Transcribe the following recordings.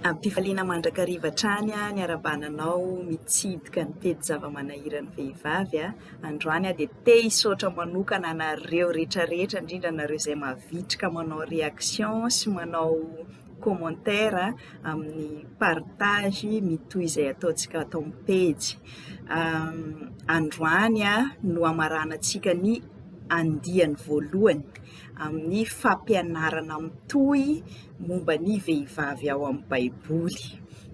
Am-pifaliana mandrakariva hatrany aho niara-bana anao mitsidika ny pejy zava-manahiran'ny vehivavy. Androany aho dia te hisaotra manokana anareo rehetra rehetra, indrindra anareo izay mavitrika manao réaction sy manao commentaire amin'ny partage mitohy izay ataontsika ato amin'ny pejy. Androany no hamaranantsika ny andiany voalohany. amin'ny fampianarana mitohy momba ny vehivavy ao amin'ny Baiboly.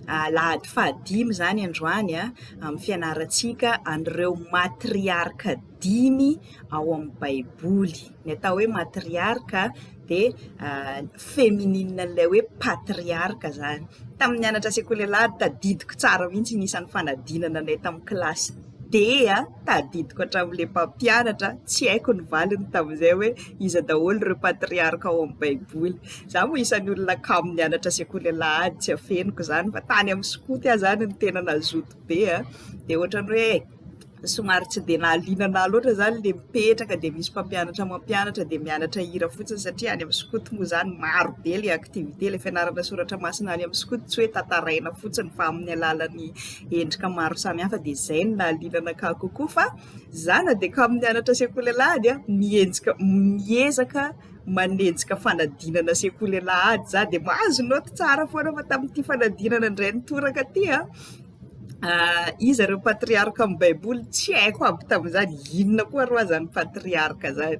Alahady fahadimy izany androany amin'ny fianarantsika an'ireo matriarka dimy ao amin'ny Baiboly. Ny atao hoe matriarka dia feminine an'ilay hoe patriarka izany. Tamin'ny nianatra sekoly alahady, tadidiko tsara mihitsy ny isan'ny fanadinana anay tamin'ny kilasy. dia tadidiko hatramin'ilay mpampianatra tsy haiko ny valiny tamin'izay hoe iza daholo ireo patriarka ao amin'ny baiboly. Izaho moa isan'ny olona kamo nianatra sekoly alahady tsy afeniko izany fa tany amin'ny skoto aho izany no tena nazoto be an, dia ohatran'ny hoe somary tsy dia nahaliana anah loatra izany ilay mipetraka dia misy mpampianatra mampianatra dia mianatra hira fotsiny satria any amin'ny skoto moa izany maro be ilay activité ilay fianarana soratra masina any amin'ny skoto tsy hoe tantaraina fotsiny fa amin'ny alalan'ny endrika maro samihafa dia izay no nahaliana anakahy kokoa fa za na dia kamo nianatra sekoly alahady a, mienjika, miezaka manenjika fanadinana sekoly alahady za dia mahazo naoty tsara foana fa tamin'ity fanadinana indray nitoraka ity a, iza ireo patriarka amin'ny baiboly tsy haiko aby tamin'izany, inona koa ary ho'aza ny patriarka izany,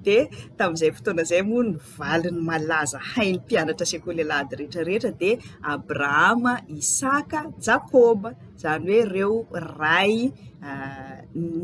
dia tamin'izay fotoana izay moa ny Valin'ny malaza hain'ny mpianatra sekoly alahady rehetra rehetra dia Abrahama, Isaka, Jakoba, izany hoe ireo ray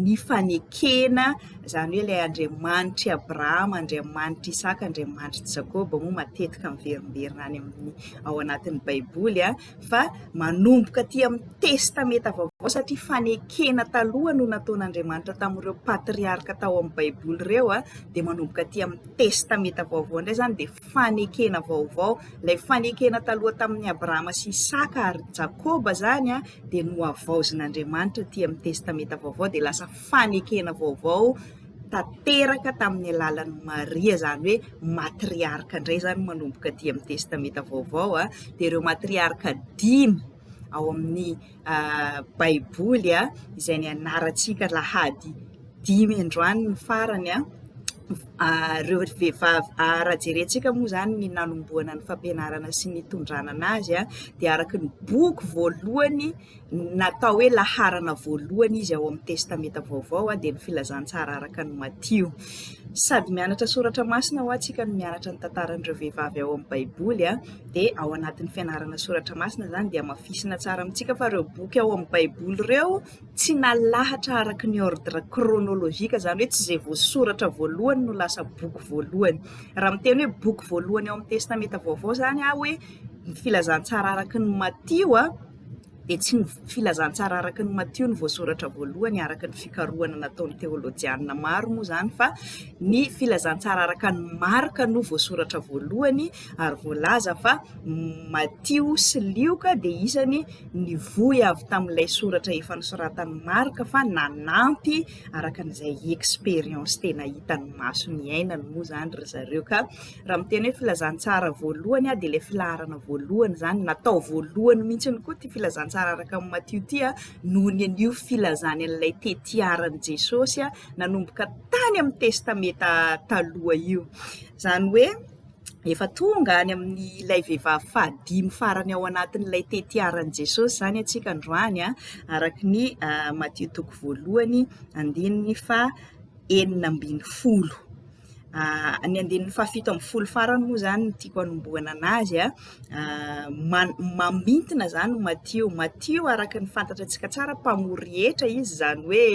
nifanekena, izany hoe ilay Andriamanitr'i Abrahama, Andriamanitr'i Isaka, Andriamanitr'i Jakoba moa matetika miverimberina any amin'ny ao anatin'ny Baiboly. fa manomboka aty amin'ny Testamenta Vaovao satria fanekena taloha no nataon'Andriamanitra tamin'ireo patriarka tao amin'ny Baiboly ireo a, dia manomboka aty amin'ny Testamenta Vaovao indray izany dia fanekena vaovao. Ilay fanekena taloha tamin'i Abrahama sy Isaka ary Jakoba izany a dia nohavaozin'Andriamanitra aty amin'ny Testamenta Vaovao dia lasa fanekena vaovao. tanteraka tamin'ny alalan'i Maria, izany hoe matriarka indray izany manomboka aty amin'ny Testamenta Vaovao. Dia ireo matriarka dimy ao amin'ny Baiboly izay nianarantsika alahady dimy androany ny farany, ireo vehivavy, raha jerentsika moa izany ny nanombohana ny fampianarana sy ny nitondranana azy dia araka ny boky voalohany. Natao hoe laharana voalohany izy ao amin'ny Testamenta Vaovao, dia ny Filazantsara araka an'i Matio. Sady mianatra soratra masina hoa tsika no mianatra ny tantaran'ireo vehivavy ao amin'ny Baiboly, dia ao anatin'ny fianarana soratra masina izany dia hamafisina tsara amintsika fa ireo boky ao amin'ny Baiboly ireo tsy nalahatra araka ny ordre chronologique, izany hoe tsy izay voasoratra voalohany no lasa boky voalohany. Raha miteny hoe boky voalohany ao amin'ny Testamenta Vaovao izany aho hoe ny Filazantsara araka an'i Matio, dia tsy ny filazantsara araka ny Matio no voasoratra voalohany araka ny fikarohana nataon'ny teolojianina maro moa izany fa ny filazantsara araka ny Marka no voasoratra voalohany ary voalaza fa Matio sy Lioka dia isany nivoy avy tamin'ilay soratra efa nosoratan'ny Marka fa nanampy araka an'izay expérience tena hitan'ny maso niainany moa izany ry zareo ka Raha miteny hoe filazantsara voalohany aho dia ilay filaharana voalohany izany, natao voalohany mihitsy koa ity filazantsara araka amin'i Matio ity noho ny an'io filazany an'ilay tetiaran'i Jesosy nanomboka tany amin'ny Testamenta Taloha io. Izany hoe efa tonga any amin'ilay vehivavy fahadimy farany ao anatin'ilay tetiaran'i Jesosy izany antsika androany araka ny ah, Matio toko voalohany andininy faha enina ambin'ny folo. Ny andininy fahafito ambin'ny folo farany moa izany no tiako hanombohana an'azy an, ma- mamintina izany Matio, Matio araka ny fantantsika tsara mpamory hetra izy izany hoe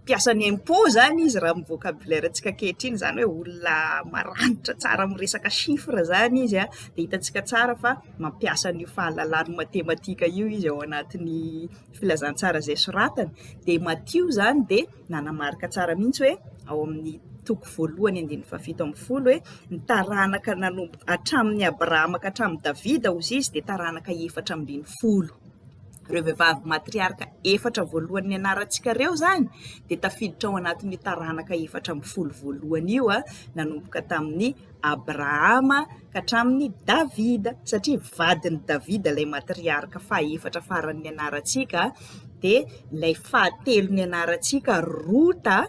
mpiasa ny impôt izany izy raha ny vocabulaire antsika ankehitriny izany hoe olona maranitra tsara amin'ny resaka chiffres izany izy an, dia hitantsika tsara fa mampiasa an'io fahalalany matematika io izy ao anatin'ny. filazantsara izay soratany dia Matio izany dia nanamarika tsara mihitsy hoe ao amin'ny toko voalohany andininy fahafito ambin'ny folo hoe ny taranaka nanomboka hatramin'ny Abrahama ka hatramin'ny Davida hozy izy dia taranaka efatra ambin'ny folo. Ireo vehivavy matriarka efatra voalohany nianarantsika ireo izany dia tafiditra ao anatin'ny taranaka efatra ambin'ny folo voalohany io a, ah, nanomboka tamin'ny Abrahama ka hatramin'i Davida, satria vadin'i Davida ilay matriarka fahefatra faran'ny anarantsika, dia ilay fahatelony anarantsika Rota,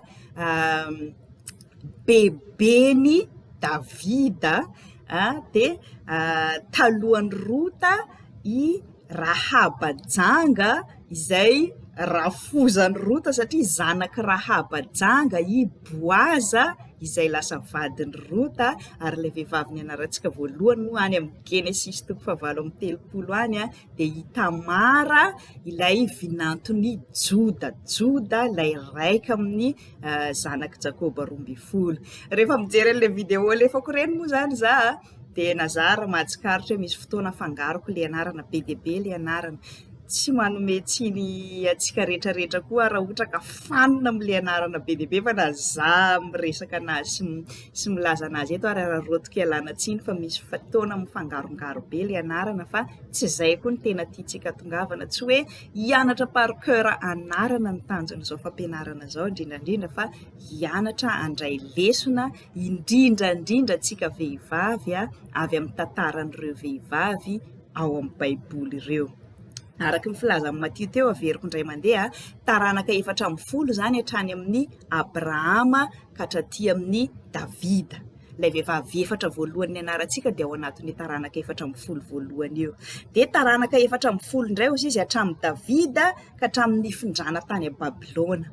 beben'i Davida, dia talohan'i Rota i Rahaba janga izay rafozan'i Rota satria zanak'i Rahaba janga i Boaza. izay lasa vadin'i Rota, ary ilay vehivavy nianarantsika voalohany moa any amin'ny Genesisy toko fahavalo amby telopolo any dia i Tamara ilay vinanton'i Joda, Joda ilay raika amin'ny zanak'i Jakoba roa ambin'ny folo. Rehefa mijery an'ilay vidéo alefako ireny moa izany izaho dia nazary ry mahatsikaritra hoe misy fotoana afangaroko ilay anarana be dia be ilay anarana, tsy manome tsiny antsika rehetrarehetra koa aho raha ohatra ka fanina amin'ilay anarana be dia be fa na za miresaka an'azy sy sy milaza an'azy eto ary araraotiko ialana tsiny fa misy fotoana mifangarongaro be ilay anarana fa tsy izay koa ny tena tiantsika atongavana, tsy hoe hianatra par cœur anarana no tanjon'izao fampianarana izao indrindra indrindra fa hianatra handray lesona indrindra indrindra antsika vehivavy avy amin'ny tantaran'ireo vehivavy ao amin'ny baiboly ireo. Araka ny filazan'i Matio teo averiko indray mandeha, taranaka efatra ambin'ny folo izany hatrany amin'ny Abrahama ka hatraty amin'ny Davida. Ilay vehivavy efatra voalohany nianarantsika dia ao anatin'ny taranaka efatra ambin'ny folo voalohany io. Dia taranaka efatra ambin'ny folo indray hozy izy hatramin'i Davida ka hatramin'ny nifindrana tany Babylona.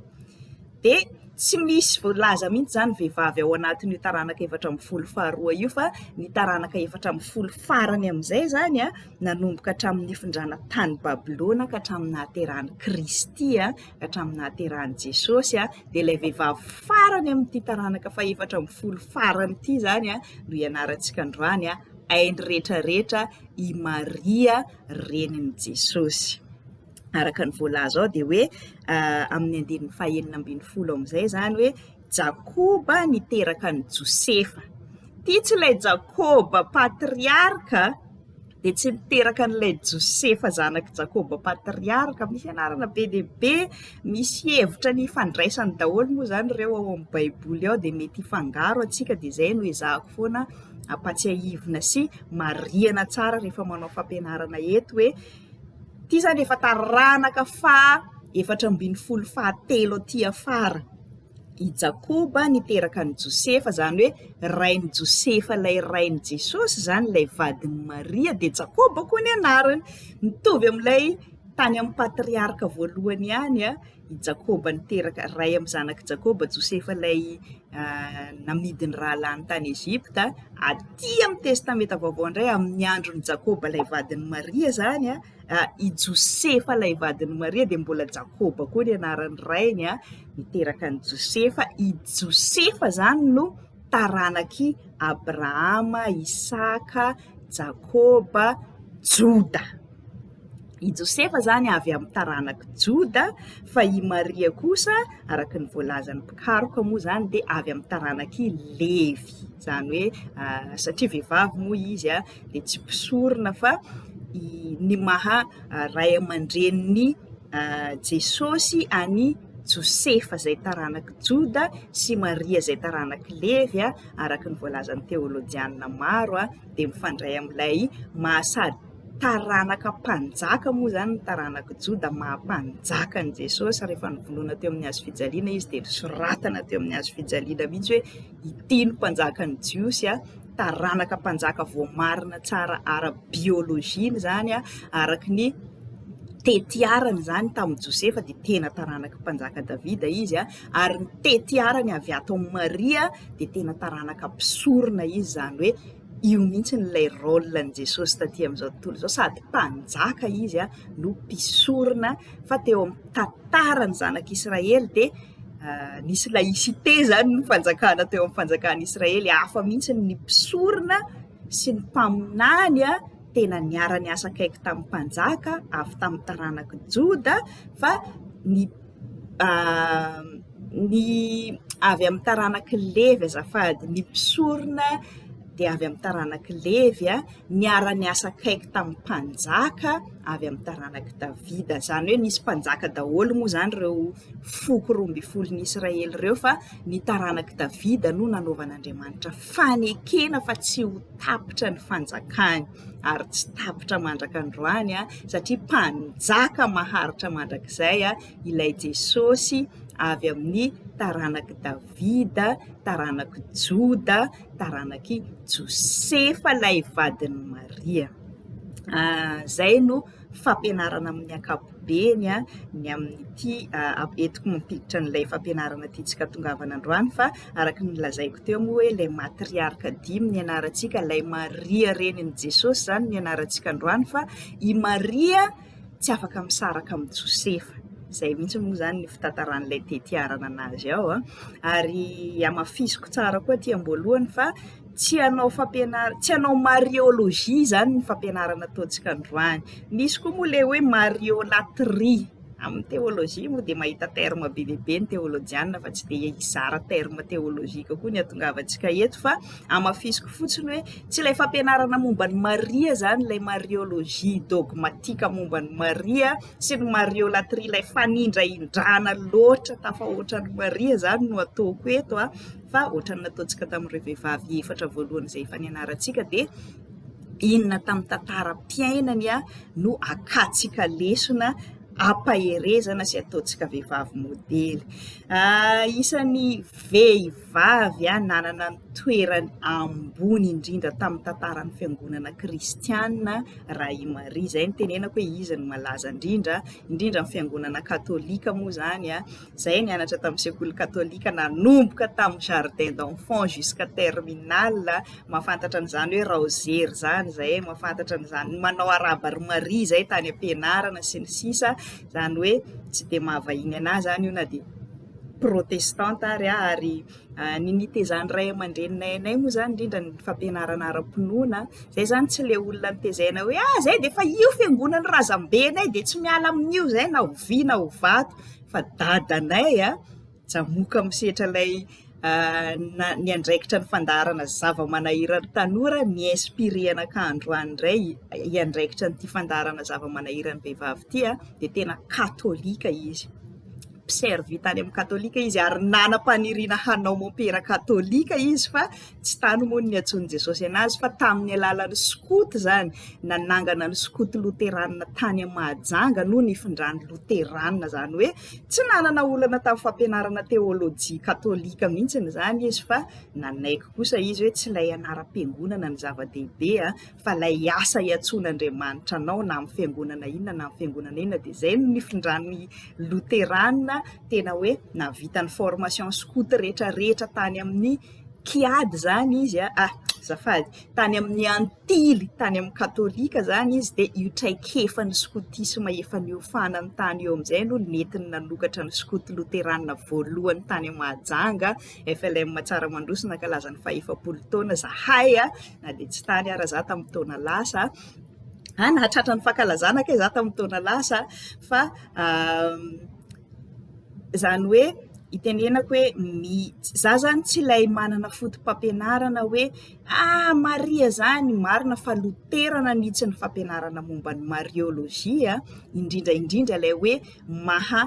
dia tsy misy voalaza mihitsy izany vehivavy ao anatin'io taranaka efatra ambin'ny folo faharoa io fa ny taranaka efatra ambin'ny folo farany amin'izay izany a, nanomboka hatramin'ny nifindrana tany Babylona ka hatramin'ny nahaterahan'i Kristy a, ka hatramin'ny nahaterahan'i Jesosy a, dia ilay vehivavy farany amin'ity taranaka fahefatra ambin'ny folo farany ity izany a no ianarantsika androany a, hainy rehetra rehetra i Maria renin'i Jesosy. araka ny voalaza ao dia hoe amin'ny andininy fahenina ambin'ny folo amin'izay izany hoe Jakoba niteraka an'i Josefa. Ity tsy ilay Jakoba patriarka dia tsy niteraka an'ilay Josefa zanak'i Jakoba patriarka. Misy anarana be dia be, misy hevitra ny ifandraisany daholo moa izany ireo ao amin'ny Baiboly ao dia mety hifangaro antsika dia izay no ezahako foana ampatsiahivina sy marihana tsara rehefa manao fampianarana eto hoe Ity izany efa taranaka faha efatra ambin'ny folo faha telo aty afara. I Jakoba niteraka an'i Josefa, izany hoe rain'i Josefa ilay rain'i Jesosy izany, ilay vadin'i Maria dia Jakoba koa ny anarany. Mitovy amin'ilay tany amin'ny patriarka voalohany ihany i Jakoba niteraka, ray amin'ny zanak'i Jakoba, Josefa ilay namidy ny rahalahiny tany Egypta, aty amin'ny Testamenta Vaovao indray amin'ny andron'i Jakoba ilay vadin'i Maria izany a, i Josefa ilay vadin'i Maria dia mbola Jakoba koa ny anaran'ny rainy a, niteraka an'i Josefa, i Josefa izany no taranak'i Abrahama, Isaka, Jakoba, Joda. I Josefa izany avy amin'ny taranak'i Joda fa i Maria kosa araka ny voalazan'ny mpikaroka moa izany dia avy amin'ny taranak'i Levy, izany hoe satria vehivavy moa izy a. dia tsy mpisorona fa i ny maha ray aman-drenin'i Jesosy an'i Josefa izay taranak'i Joda sy Maria izay taranak'i Levy a, araka ny voalazan'ny teolojiana maro a, dia mifandray amin'ilay maha sady taranaka mpanjaka moa izany ny taranak'i Joda maha mpanjaka an'i Jesosy rehefa novonoina teo amin'ny hazofijaliana izy dia nosoratana teo amin'ny hazofijaliana mihitsy hoe. Ity no mpanjakan'ny Jiosy, taranaka mpanjaka voamarina tsara ara-biolojia izany, araka ny tetiarany izany tamin'i Josefa dia tena taranaka mpanjaka Davida izy, ary ny tetiarany avy ato amin'i Maria dia tena taranaka mpisorona izy, izany hoe Io mihitsy no ilay rôle n'i Jesosy taty amin'izao tontolo izao, sady mpanjaka izy no mpisorona fa teo amin'ny tantaran'ny zanak'Israely dia nisy laïcité izany ny fanjakana teo amin'ny fanjakan'i Israely, hafa mihitsy ny mpisorona sy ny mpaminany tena niara-niasa akaiky tamin'ny mpanjaka avy tamin'ny taranak'i Joda fa ny ny avy amin'ny taranak'i Levy azafady, ny mpisorona dia avy amin'ny taranak'i Levy, niara-niasa akaiky tamin'ny mpanjaka avy amin'ny taranak'i Davida, izany hoe nisy mpanjaka daholo moa izany ireo foko roa ambin'ny folon'ny Israely ireo fa ny taranak'i Davida no nanaovan'Andriamanitra fanekena fa tsy ho tapitra ny fanjakany. ary tsy tapitra mandraka androany satria mpanjaka maharitra mandrakizay ilay Jesosy avy amin'ny taranak'i Davida, taranak'i Joda, taranak'i Josefa ilay vadin'i Maria. Izay no... fampianarana amin'ny ankapobeny ny amin'ity entiko mampiditra an'ilay fampianarana tiantsika tongavana androany fa araka ny lazaiko teo moa hoe ilay matriarka dimy ny anarantsika ilay maria renin'i jesosy izany ny anarantsika androany fa i maria tsy afaka misaraka amin'i josefa izay mihitsy moa izany ny fitantaran'ilay tetiarana anazy ao an ary hamafisiko tsara koa aty am-boalohany fa tsy hanao fampianarana, tsy hanao mariologie izany ny fampianarana ataontsika androany. Misy koa moa ilay hoe mariolatrie, amin'ny teolojia moa dia mahita terme be dia be ny teolojiana fa tsy dia hizara terme teolojika koa ny hatongavantsika eto fa hamafisiko fotsiny hoe tsy ilay fampianarana momba an'i Maria izany ilay mariologie dogmatika momba an'i Maria sy ny mariolatrie ilay fanindrahindrana loatra tafahoatra an'i Maria izany no ataoko eto an. fa ohatran'ny nataontsika tamin'ireo vehivavy efatra voalohany izay efa nianarantsika dia inona tamin'ny tantaram-piainany a no akatsika lesona ampaherezana sy ataontsika vehivavy modely ah, isan'ny vehivavy a nanana ny toerany ambony indrindra tamin'ny tantaran'ny fiangonana kristianina raha i maria izay ny tenenako hoe izy no malaza indrindra indrindra ny fiangonana katolika moa izany a Zay nianatra tamin'ny sekoly katolika nanomboka tamin'ny jardin d'enfants jusqu'à terminale mahafantatra an'izany hoe raozery zany zay mahafantatra an'izany manao araba ry maria zay tany am-pianarana sy ny sisa zany hoe tsy dia mahavahiny anà zany io na dia protestanta ary ah ary ah, ny nitezan'ny ray aman-dreninay anay moa zany indrindra ny fampianarana ara-pinoana zay zany tsy le olona nitezaina hoe ah zay dia efa io fiangonan'ny razambenay dia tsy miala amin'io zay na ho vy na ho vato fa dadanay a, Jamoka misetra ilay niandraikitra ny fandaharana zava-manahiran'ny tanora mi-inspirer anakah androany indray hiandraikitra ity fandaharana zava-manahiran'ny vehivavy ity a, dia tena katolika izy, mpi-servir tany amin'ny katolika izy ary nanam-paniriana hanao mompera katolika izy fa Tsy tany moa no niantsoan'i Jesosy anazy fa tamin'ny alalan'ny skoto izany, nanangana ny skoto loteranina tany amin'i Mahajanga no nifindrany loteranina, izany hoe tsy nanana olana tamin'ny fampianarana teolojia katolika mihitsiny izany izy fa nanaiky kosa izy hoe tsy ilay anaram-piangonana no zava-dehibe fa ilay asa iantsoan'Andriamanitra anao na amin'ny fiangonana inona na amin'ny fiangonana inona dia izay no nifindrany loteranina tena hoe nahavita ny formation skoto rehetra rehetra tany amin'ny kiady izany izy a, ah azafady, tany amin'ny antily tany amin'ny katolika izany izy dia io traikefan'ny skotisma efa niofana ny tany eo amin'izay no nentiny nanokatra ny skoto loterana voalohany tany Mahajanga, FLM Tsaramandroso nankalaza ny fahefapolo taona izahay a, na dia tsy tany ara izaho tamin'ny taona lasa a, nahatratra ny fankalazana kay izaho tamin'ny taona lasa fa. Izany hoe itenenako hoe mi za zany tsy ilay manana fotopampianarana hoe ah maria zany marina fa loterana mihitsy ny fampianarana momba ny mariologia a, indrindra indrindra ilay hoe maha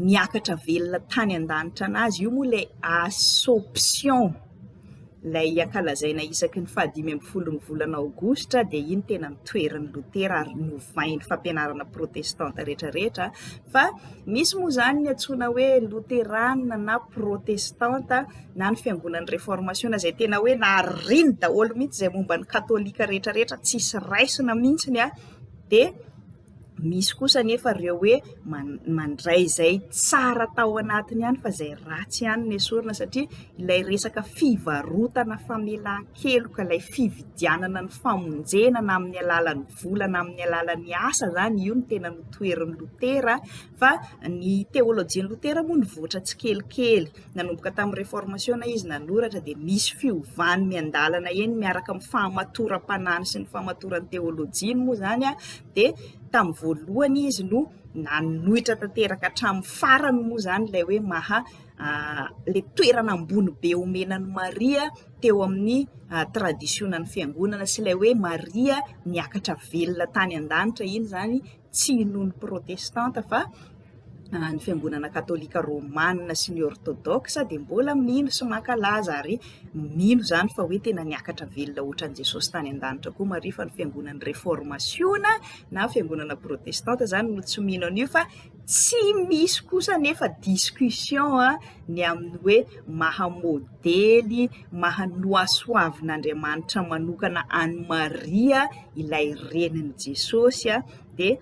miakatra velona tany an-danitra an'azy io moa ilay assomption. ilay ankalazaina isaky ny fahadimy ambin'ny folon'ny volana aogositra dia iny tena ny toerin'i Lotera ary novain'ny fampianarana protestanta rehetra rehetra fa misy moa izany ny antsoina hoe loterana na protestanta na ny fiangonan'ny reformasiona izay tena hoe nariny daholo mihitsy izay momba ny katolika rehetra rehetra tsisy raisina mihitsy ny ahy dia Misy kosa anefa ireo hoe mandray izay tsara tao anatiny ihany fa izay ratsy ihany no esorina satria ilay resaka fivarotana famelan-keloka, ilay fividianana ny famonjena na amin'ny alalan'ny vola na amin'ny alalan'ny asa izany, io no tena notoherin'i Lotera Fa ny teolojian'i Lotera moa nivoatra tsikelikely. Nanomboka tamin'ny Reformasiona izy nanoratra, dia misy fiovany miandalana eny miaraka amin'ny fahamatoram-panany sy ny fahamatoran'ny teolojiany moa izany, dia tamin'ny voalohany izy no nanohitra tanteraka hatramin'ny farany moa izany ilay hoe maha ilay toerana ambony be omena an'i Maria teo amin'ny tradisionan'ny fiangonana sy ilay hoe Maria niakatra velona tany an-danitra iny izany. tsy noho ny protestanta fa ny fiangonana katolika romana sy ny ortodoksa dia mbola mino sy mankalaza ary mino izany fa hoe tena niakatra velona ohatran'i Jesosy tany an-danitra koa Maria fa ny fiangonan'ny reformasiona na fiangonana protestanta izany no tsy mino an'io fa tsy misy kosa nefa discussion ny amin'ny hoe maha modely mahanoasoavin'Andriamanitra manokana an'i Maria ilay renin'i Jesosy dia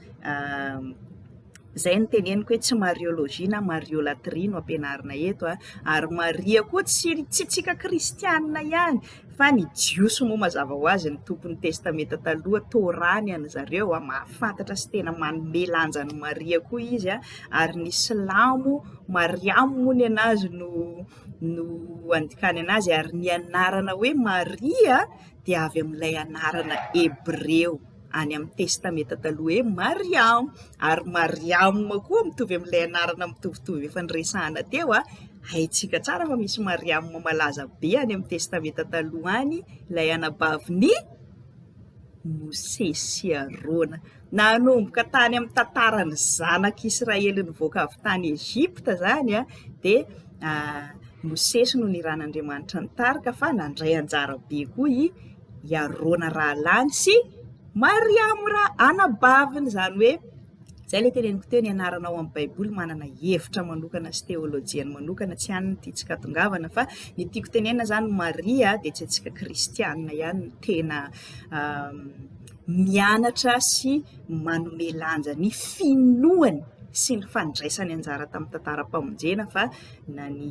izay no teneniko hoe tsy mariologie na mariolatrie no ampianarina eto a, ary Maria koa tsy tsy antsika kristianina ihany fa ny jiosy moa mazava ho azy ny tompon'ny testamenta taloha Torah ny an'ny zareo a, mahafantatra sy tena manome lanja an'i Maria koa izy a, ary ny silamo Mariamo moa ny anazy no no andikany anazy ary ny anarana hoe Maria dia avy amin'ilay anarana hebreo any amin'ny Testamenta Taloha hoe Mariama, ary Mariama koa mitovy amin'ilay anarana mitovitovy efa noresahana teo, haintsika tsara fa misy Mariama malaza be any amin'ny Testamenta Taloha any, ilay anabavin'i Mosesy sy Arona. Nanomboka tany amin'ny tantaran'ny zanak'i Israely nivoaka avy tany Egypta izany dia Mosesy no niran'Andriamanitra ny tarika fa nandray anjara be koa i i Arona rahalany sy Mariamo ra anabaviny izany hoe izay ilay teneniko teo ny anarana ao amin'ny Baiboly manana hevitra manokana sy teolojiany manokana tsy an'ny tia tsy katongavana fa ny tiako tenenina izany Maria dia tsy antsika kristianina ihany tena mianatra sy manome lanja ny finoany sy ny fandraisany anjara tamin'ny tantaram-pamonjena fa na ny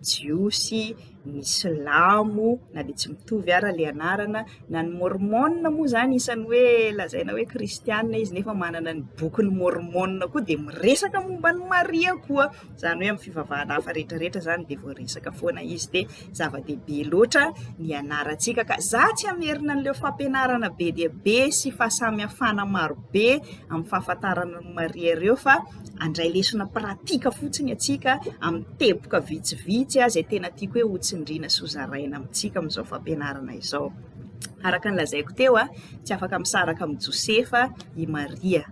jiosy, ny silamo na dia tsy mitovy ara ilay anarana, na ny môrmôna moa izany isan'ny hoe lazaina hoe kristiana izy nefa manana ny bokin'i môrmôna koa dia miresaka momba an'i Maria koa, izany hoe amin'ny fivavahana hafa rehetra rehetra izany dia voaresaka foana izy dia. zava-dehibe loatra ny ianarantsika ka za tsy hamerina an'ileo fampianarana be dia be sy fahasamihafana maro be amin'ny fahafantarana ny maria ireo fa andray lesona pratika fotsiny atsika amin'ny teboka vitsivitsy azy e tena tiako hoe hotsindriana sy hozaraina amintsika amin'izao fampianarana izao araka ny lazaiko teo a tsy afaka misaraka amin'i josefa i maria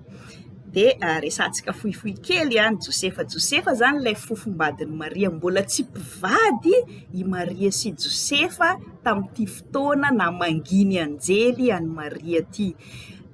dia resahantsika fohifohy kely ny Josefa. Josefa izany ilay fofombadin'i Maria. Mbola tsy mpivady i Maria sy Josefa tamin'ity fotoana namangian'ny anjely an'i Maria ity.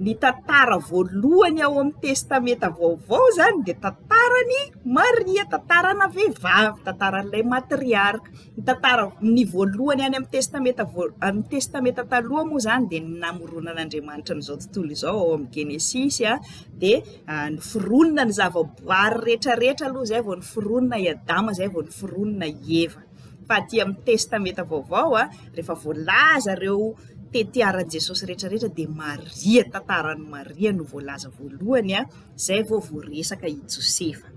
Ny tantara voalohany ao amin'ny testamenta vaovao izany dia tantaran'i Maria, tantarana vehivavy, tantaran'ilay matriarka. Ny tantara, ny voalohany any amin'ny Testamenta voal, amin'ny Testamenta Taloha moa izany dia ny namoronan'Andriamanitra an'izao tontolo izao ao amin'ny Genesisy a, dia a, noforonina ny zavaboary rehetrarehetra aloha izay vao noforonina i Adama, izay vao noforonina i Eva. Fa aty amin'ny Testamenta Vaovao a, rehefa voalaza ireo tetiaran'i Jesosy rehetrarehetra dia Maria, tantaran'i Maria no voalaza voalohany a, izay vao voaresaka i Josefa.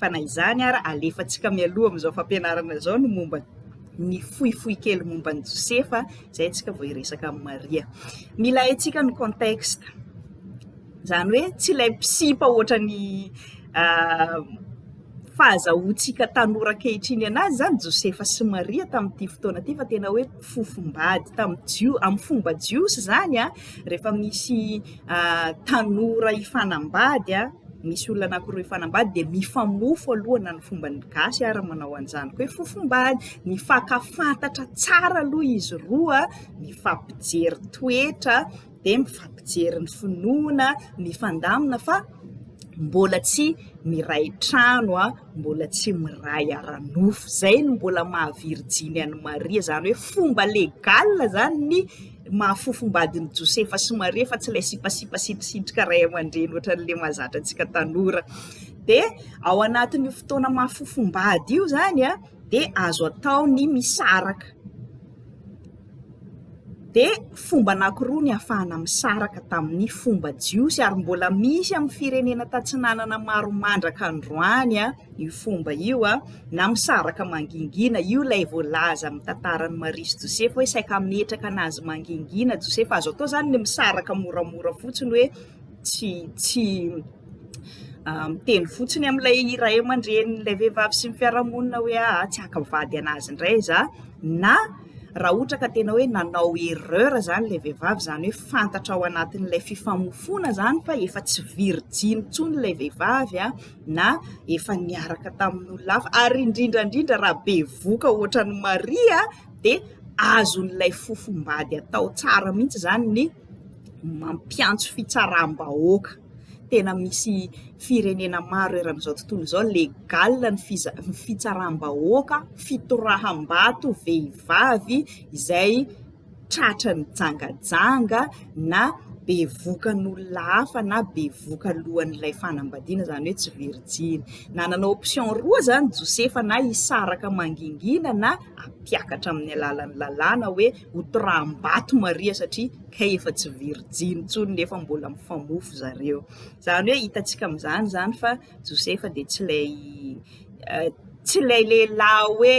fa na izany ara alefantsika mialoha amin'izao fampianarana izao ny momba ny fohifohy kely momba an'i Josefa izay antsika vao hiresaka amin'i Maria. Mila haintsika ny contexte. Izany hoe tsy ilay mpisipa ohatra ny uh, fahazahoantsika tanora ankehitriny anazy izany Josefa sy Maria tamin'ity fotoana ity fa tena hoe fofombady tamin'ny jio amin'ny fomba jiosy izany a ah, rehefa misy tanora hifanambady a, misy olona anankiroa hifanambady dia mifamofo aloha na ny fomba ny gasy ary manao an'izany koa hoe fofombady, mifakafantatra tsara aloha izy roa, mifampijery toetra dia mifampijery ny finoana, mifandamina fa mbola tsy miray trano a, mbola tsy miray ara-nofo, izay no mbola maha virjiny an'i Maria izany hoe fomba legale izany ny. mahafofombadin'i Josefa sy Maria fa tsy ilay sipasipa sintosintona ray aman-dreny ohatran'ilay mahazatra antsika tanora. Dia ao anatin'io fotoana mahafofombady io izany a, dia azo atao ny misaraka. Dia fomba anankiroa ny hafahana misaraka tamin'ny fomba jiosy ary mbola misy amin'ny firenena tatsinanana maro mandraka androany a. io fomba io a na misaraka mangingina io ilay voalaza amin'ny tantaran'i Maria sy Josefa hoe saika hametraka anazy mangingina Josefa azo atao izany ny misaraka moramora fotsiny hoe tsy tsy miteny fotsiny amin'ilay iray aman-drenin'ilay vehivavy sy ny fiarahamonina hoe ah tsy haka vady anazy indray za na raha ohatra ka tena hoe nanao erreur izany ilay vehivavy izany hoe fantatra ao anatin'ilay fifamofoana izany fa efa tsy virjiny intsony ilay vehivavy a na efa niaraka tamin'olona hafa ary indrindra indrindra raha bevoka ohatran'i Maria dia azon'ilay fofombady atao tsara mihitsy izany ny mampiantso fitsaram-bahoaka, tena misy firenena maro eran'izao tontolo izao legal ny fiza- ny fitsaram-bahoaka, fitoraham-bato vehivavy izay. tratra nijangajanga na bevoka an'olona hafa na bevoka alohan'ilay fanambadiana, izany hoe tsy virijiny. Nanana option roa izany Josefa, na hisaraka mangingina na hampiakatra amin'ny alalan'ny lalàna hoe hotoraham-bato Maria satria kay efa tsy virijiny intsony nefa mbola mifamofo zareo. Izany hoe hitantsika amin'izany izany fa Josefa dia tsy ilay eh, tsy ilay lehilahy hoe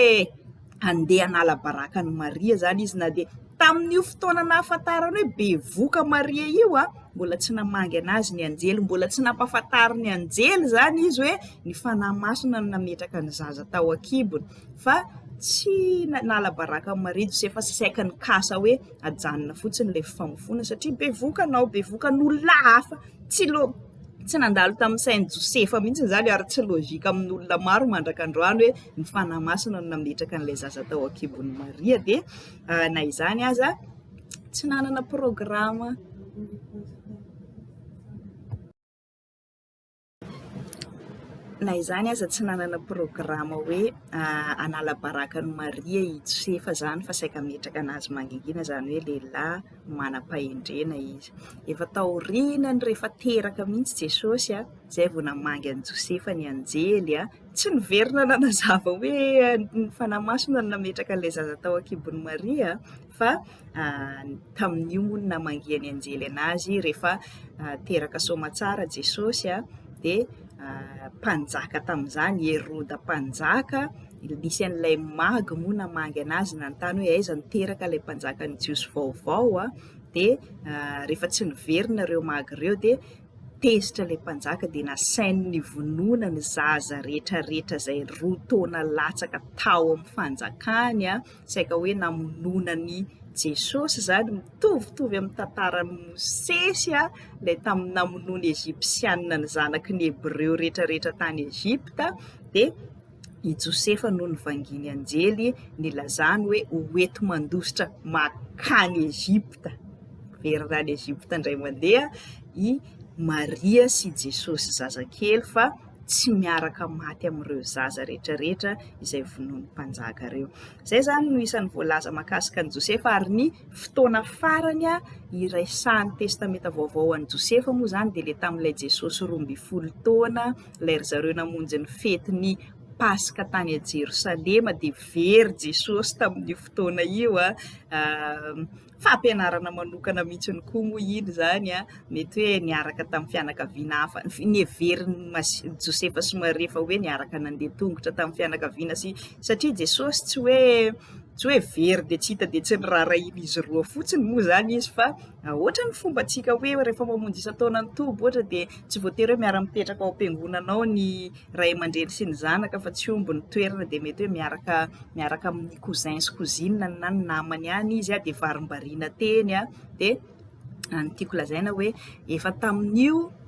handeha hanala baraka an'i Maria izany izy na dia tamin'io fotoana nahafantarany hoe bevoka Maria io a, mbola tsy namangy an'azy ny anjely, mbola tsy nampahafantarin'ny anjely izany izy hoe ny fanahy masina no nametraka ny zaza tao an-kibony fa tsy nanala baraka an'i Maria Josefa fa saika nikasa hoe ajanona fotsiny ilay fifamofoana satria bevoka anao, bevoka an'olona hafa, tsy lo-. Tsy nandalo tamin'ny sain'i Josefa mihitsy izany ary tsy lojika amin'olona maro mandraka androany hoe ny Fanahy Masina no nametraka an'ilay zaza tao an-kibon'i Maria dia na izany aza tsy nanana programa na izany aza tsy nanana programa hoe hanala baraka an'i Maria i Josefa izany fa saika hametraka an'azy mangingina izany hoe lehilahy. manam-pahendrena izy. Efa taorianany rehefa teraka mihitsy Jesosy izay vao namangy an'i Josefa ny anjely. Tsy niverina nanazava hoe ny Fanahy Masina no nametraka an'ilay zaza tao an-kibon'i Maria fa tamin'io moa no namangian'ny anjely anazy rehefa teraka soamantsara Jesosy dia mpanjaka tamin'izany i Heroda mpanjaka. Nisy an'ilay Mag moa namangy an'azy nanontany hoe aiza no teraka ilay mpanjakan'ny Jiosy vaovao a, dia rehefa tsy niverina ireo Mag ireo dia tezitra ilay mpanjaka dia nasainy nivonona ny zaza rehetra rehetra izay roa taona latsaka tao amin'ny fanjakany a, saika hoe namonoana an'i Jesosy izany, mitovitovy amin'ny tantaran'i Mosesy a, ilay tamin'ny namonoana ny Ejipsianina ny zanaky ny Hebreo rehetra rehetra tany Ejipta dia. I Josefa no nivangian'ny anjely nilazany hoe ho enti-mandositra mankany Egypta. Miverina any Egypta indray mandeha i Maria sy Jesosy zazakely fa tsy miaraka maty amin'ireo zaza rehetra rehetra izay vonoin'ny mpanjaka ireo. Izay izany no isan'ny voalaza makasika an'i Josefa ary ny fotoana farany iraisan'ny testamenta vaovao an'i Josefa moa izany dia ilay tamin'ilay Jesosy roa ambin'ny folo taona ilay ry zareo namonjy ny fety ny paska tany a Jerosalema dia very Jesosy tamin'io fotoana io a, fampianarana manokana mihitsy ny koa moa iny zany a, mety hoe niaraka tamin'ny fianakaviana hafa, ny heverin'i Josefa sy Maria fa hoe niaraka nandeha tongotra tamin'ny fianakaviana sy satria Jesosy tsy hoe tsy hoe very dia tsy hita dia tsy noraharahian'izy roa fotsiny moa zany izy fa ohatran'ny fombantsika hoe rehefa mamonjy isan-taona ny toby ohatra dia Tsy voatery hoe miara-mipetraka ao am-piangonana ao ny ray aman-dreny sy ny zanaka fa tsy omby ny toerana dia mety hoe miaraka miaraka amin'ny cousin sy cousine na ny namany any izy dia varimbariana teny dia ny tiako lazaina hoe efa tamin'io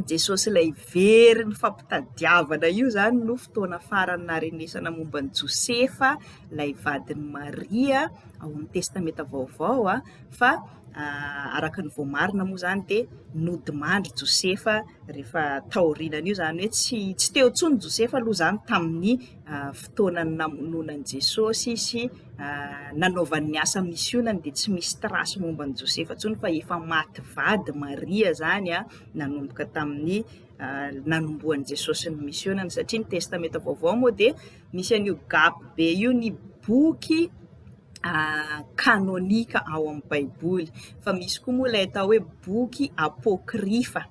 Jesosy ilay very nifampitadiavana io izany no fotoana farany naharenesana momba an'i Josefa ilay vadin'i Maria ao amin'ny testamenta vaovao fa araka ny voamarina moa izany dia nodimandry Josefa rehefa taorianan'io, izany hoe tsy tsy teo intsony Josefa aloha izany tamin'ny fotoana namonoana an'i Jesosy sy nanaovany ny asa misionany dia tsy misy trace momba an'i Josefa intsony fa efa maty vady Maria izany a, nanomboka tamin'ny nanombohan'i Jesosy ny misionany satria ny testamenta vaovao moa dia misy an'io gap be io ny boky kanônika ao amin'ny baiboly fa misy koa moa ilay atao hoe boky apôkrifa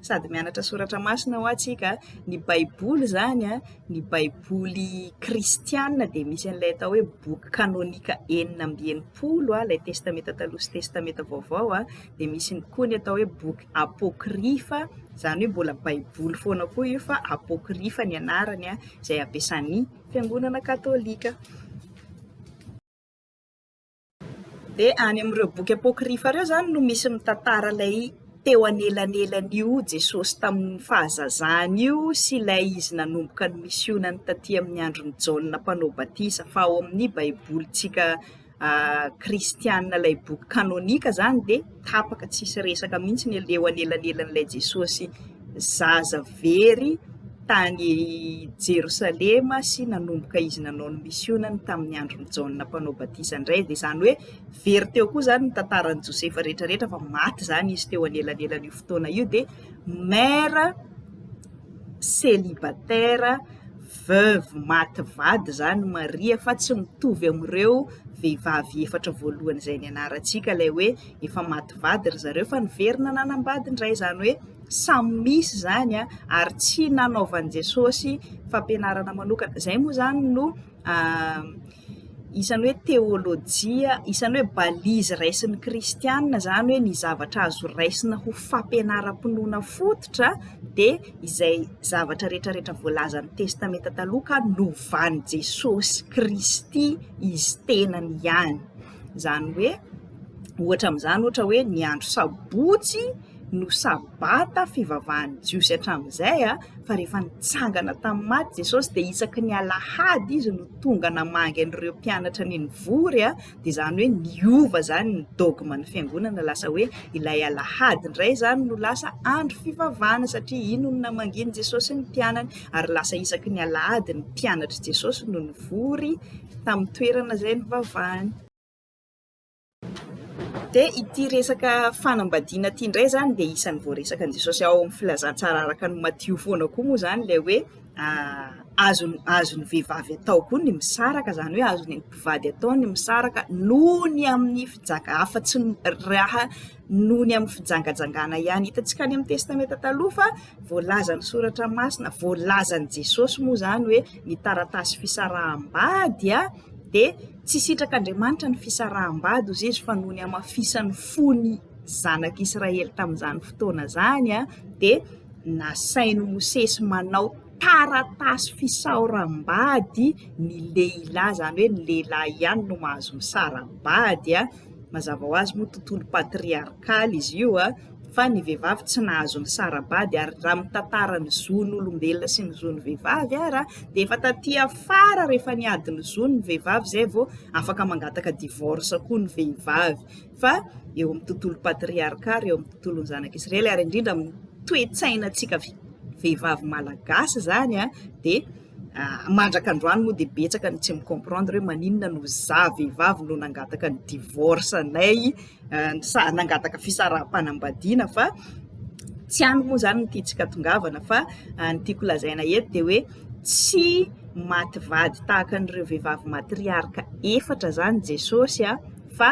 sady mianatra soratra masina hoa tsika ny baiboly zany a ny baiboly kristianina dia misy an'ilay atao hoe boky kanônika enina amby enimpolo a ilay testamenta taloha sy testamenta vaovao a dia misy ny koa ny atao hoe boky apôkrifa izany hoe mbola baiboly foana koa io fa apôkrifa ny anarany a izay ampiasan'ny fiangonana katolika. Dia any amin'ireo boky apokrifa ireo izany no misy mitantara ilay teo anelanelan'io Jesosy tamin'ny fahazazany io sy ilay izy nanomboka ny misionany taty amin'ny andron'i Jaona mpanao batisa fa ao amin'ny baibolintsika kristiana ilay boky kanônika izany dia tapaka tsisy resaka mihitsy ny eo anelanelan'ilay Jesôsy zaza very tany Jerosalema sy nanomboka izy nanao ny misionany tamin'ny andron'i Jaona mpanao batisa indray, dia izany hoe very teo koa izany ny tantaran'i Josefa rehetrarehetra fa maty izany izy teo anelanelan'io fotoana io dia mère célibataire, veuve maty vady izany Maria fa tsy mitovy amin'ireo vehivavy efatra voalohany izay nianarantsika ilay hoe efa maty vady ry zareo fa niverina nanambady indray izany hoe samy misy izany ary tsy nanaovan'i Jesosy fampianarana manokana, izay moa izany no... isan'ny hoe teolojia, isan'ny hoe balise raisin'ny kristiana izany hoe ny zavatra azo raisina ho fampianaram-pinoana fototra dia izay zavatra rehetrarehetra voalazan'ny Testamenta Taloha ka novan'i Jesosy Kristy Izy tenany ihany. Izany hoe, ohatra amin'izany ohatra hoe ny andro sabotsy no sabata fivavahan'ny jiosy hatramin'izay a, fa rehefa nitsangana tamin'ny maty Jesosy dia isaky ny alahady izy no tonga namangy an'ireo mpianatra ny nivory a, dia izany hoe niova izany ny dogme ny fiangonana lasa hoe ilay alahady indray izany no lasa andro fivavahana satria iny no namangian'i Jesosy ny mpianany ary lasa isaky ny alahady ny mpianatr'i Jesosy no nivory tamin'ny toerana izay nivavahany. Dia ity resaka fanambadiana ity indray izany dia isan'ny voaresakan'i Jesosy ao amin'ny filazantsara araka ny Matio foana koa moa izany ilay hoe azon'ny azon'ny vehivavy atao koa ny misaraka, izany hoe azon'ny mpivady atao ny misaraka noho ny amin'ny fijaka- afa-tsy ny raha noho ny amin'ny fijangajangana ihany. Hitantsika any amin'ny Testamenta Taloha fa voalazan'ny Soratra Masina, voalazan'i Jesosy moa izany hoe ny taratasy fisaraham-bady dia Tsy sitrak'Andriamanitra ny fisaraham-bady, hoy Jeso, fa noho ny hamafisany fo ny zanak'Israely tamin'izany fotoana izany, dia nasain'i Mosesy manao taratasy fisaoram-bady ny lehilahy, izany hoe ny lehilahy ihany no mahazo misara-bady. Mazava ho azy moa tontolo patriarkaly izy io. fa ny vehivavy tsy nahazo ny sara-bady ary raha mitantara ny zon'olombelona sy ny zon'ny vehivavy ary dia efa taty afara rehefa niady ny zony ny vehivavy izay vao afaka mangataka divorce koa ny vehivavy fa eo amin'ny tontolo patriarca ary eo amin'ny tontolon'ny zanak'i Israely ary indrindra amin'ny toe-tsainantsika vehivavy malagasy izany dia mandraka androany moa dia betsaka ny tsy mi-comprendre hoe maninona no izaho vehivavy no nangataka ny divorce anay nangataka fisaraham-panambadiana fa tsy any moa izany no tiantsika tongavana fa ny tiako lazaina eto dia hoe tsy maty vady tahaka an'ireo vehivavy matriarka efatra izany Jesosy a, fa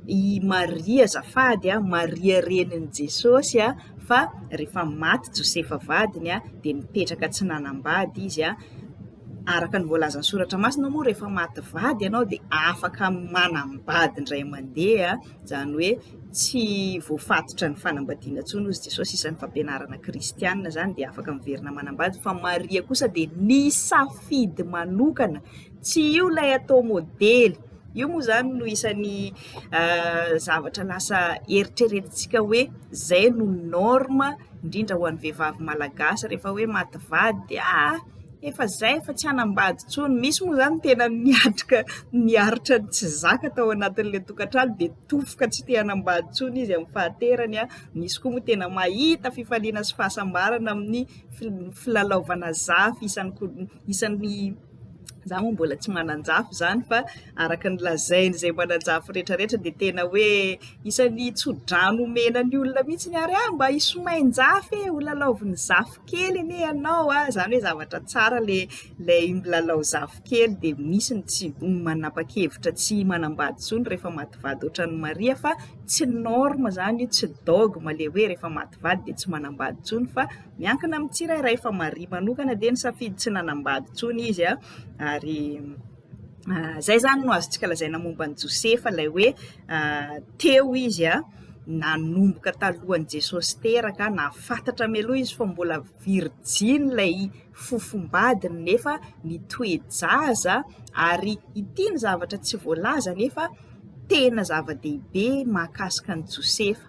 i Maria azafady a, Maria renin'i Jesosy a, fa rehefa maty Josefa vadiny a dia mipetraka tsy nanambady izy a. Araka ny voalazan'ny Soratra Masina moa rehefa maty vady ianao dia afaka manambady indray mandeha, izany hoe tsy voafatotra ny fanambadiana intsony hoy Jesosy, isan'ny fampianarana kristiana izany dia afaka miverina manambady fa Maria kosa dia nisafidy manokana tsy io ilay atao modely, io moa izany no isan'ny zavatra lasa eritreretintsika hoe izay no normes indrindra ho an'ny vehivavy malagasy rehefa hoe maty vady dia aa efa izay fa tsy hanambady intsony, misy moa izany tena niatrika niaritra ny tsy zaka tao anatin'ilay tokantrano dia tofoka tsy te hanambady intsony izy amin'ny fahaterany an, misy koa moa tena mahita fifaliana sy fahasambarana amin'ny filalaovana zafy isan'ny isan'ny. Za moa mbola tsy manan-jafy izany fa araka ny lazain'izay manan-jafy rehetra rehetra dia tena hoe isan'ny tso-drano omena ny olona mihitsy ny ary ah mba hisomain-jafy e, ho lalaovin'ny zafy kely anie ianao a, izany hoe zavatra tsara ilay ilay milalao zafy kely dia misy ny tsy manapa-kevitra tsy manambady intsony rehefa maty vady ohatran'i Maria fa tsy norme izany io tsy dogme ilay hoe rehefa maty vady dia tsy manambady intsony fa Miankina amin'ny tsirairay fa Maria manokana dia nisafidy tsy nanambady intsony izy ary izay izany no azontsika lazaina momba an'i Josefa ilay hoe teo izy nanomboka talohan'i Jesosy teraka, nahafantatra mialoha izy fa mbola virjiny ilay fofombadiny nefa nitoe-jaza ary ity ny zavatra tsy voalaza nefa tena zava-dehibe mahakasika an'i Josefa.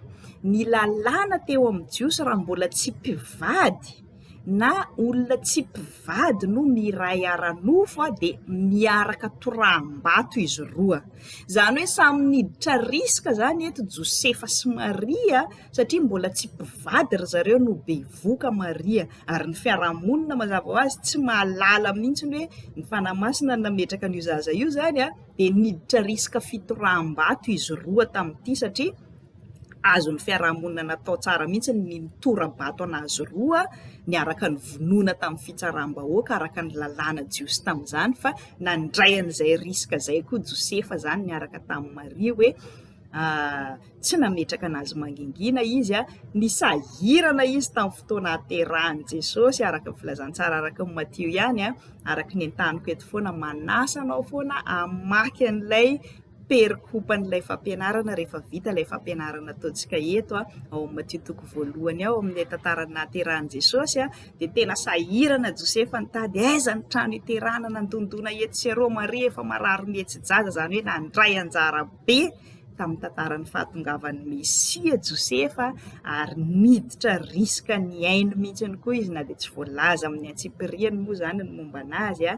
Ny lalàna teo amin'ny Jiosy raha mbola tsy mpivady na olona tsy mpivady no miray ara-nofo dia miaraka toraham-bato izy roa, izany hoe samy niditra risika izany eto Josefa sy Maria satria mbola tsy mpivady ry zareo no bevoka Maria ary ny fiarahamonina mazava ho azy tsy mahalala mihitsy ny hoe ny Fanahy Masina no nametraka an'io zaza io izany an! dia niditra risque fitoraham-bato izy roa tamin'ity satria azon'ny fiarahamonina natao tsara mihitsy ny nitora-bato an'azy roa niaraka nivonoana tamin'ny fitsaram-bahoaka araka ny lalàna jiosy tamin'izany fa nandray an'izay risque izay koa Josefa izany niaraka tamin'i Maria hoe tsy nametraka an'azy mangingina izy, nisahirana izy tamin'ny fotoana haterahan'i Jesosy araka ny filazantsara araka ny Matio ihany, araka ny entaniko eto foana, manasa anao foana hamaky an'ilay perikopan'ilay fampianarana rehefa vita ilay fampianarana ataontsika eto ao amin'ny Matio toko voalohany ao amin'ilay tantaran'ny nahaterahan'i Jesosy dia tena sahirana Josefa nitady aiza ny trano hiterahana, nandondona etsy sy eroa, Maria efa marary mihetsi-jaza izany hoe nandray anjara. be tamin'ny tantaran'ny fahatongavan'ny Mesia Josefa ary niditra risque ny ainy mihitsy ihany koa izy na dia tsy voalaza amin'ny antsipiriany moa izany ny momba anazy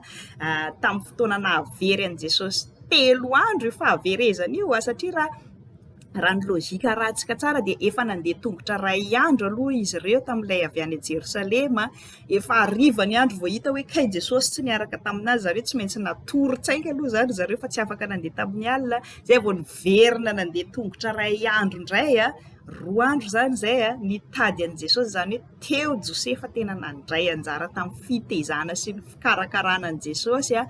tamin'ny fotoana nahavery an'i Jesosy telo andro io fahaverezana io satria raha raha ny logika ratsika tsara dia efa nandeha tongotra iray andro aloha izy ireo tamin'ilay avy any Jerosalema efa hariva ny andro vao hita hoe kay Jesosy tsy niaraka tamin'azy zareo, tsy maintsy natorin-tsaina aloha izany ry zareo fa tsy afaka nandeha tamin'ny alina, izay vao niverina nandeha tongotra iray andro indray a, roa andro izany izay a, nitady an'i Jesosy, izany hoe teo Josefa tena nandray anjara tamin'ny fitaizana sy ny fikarakarana an'i Jesosy a,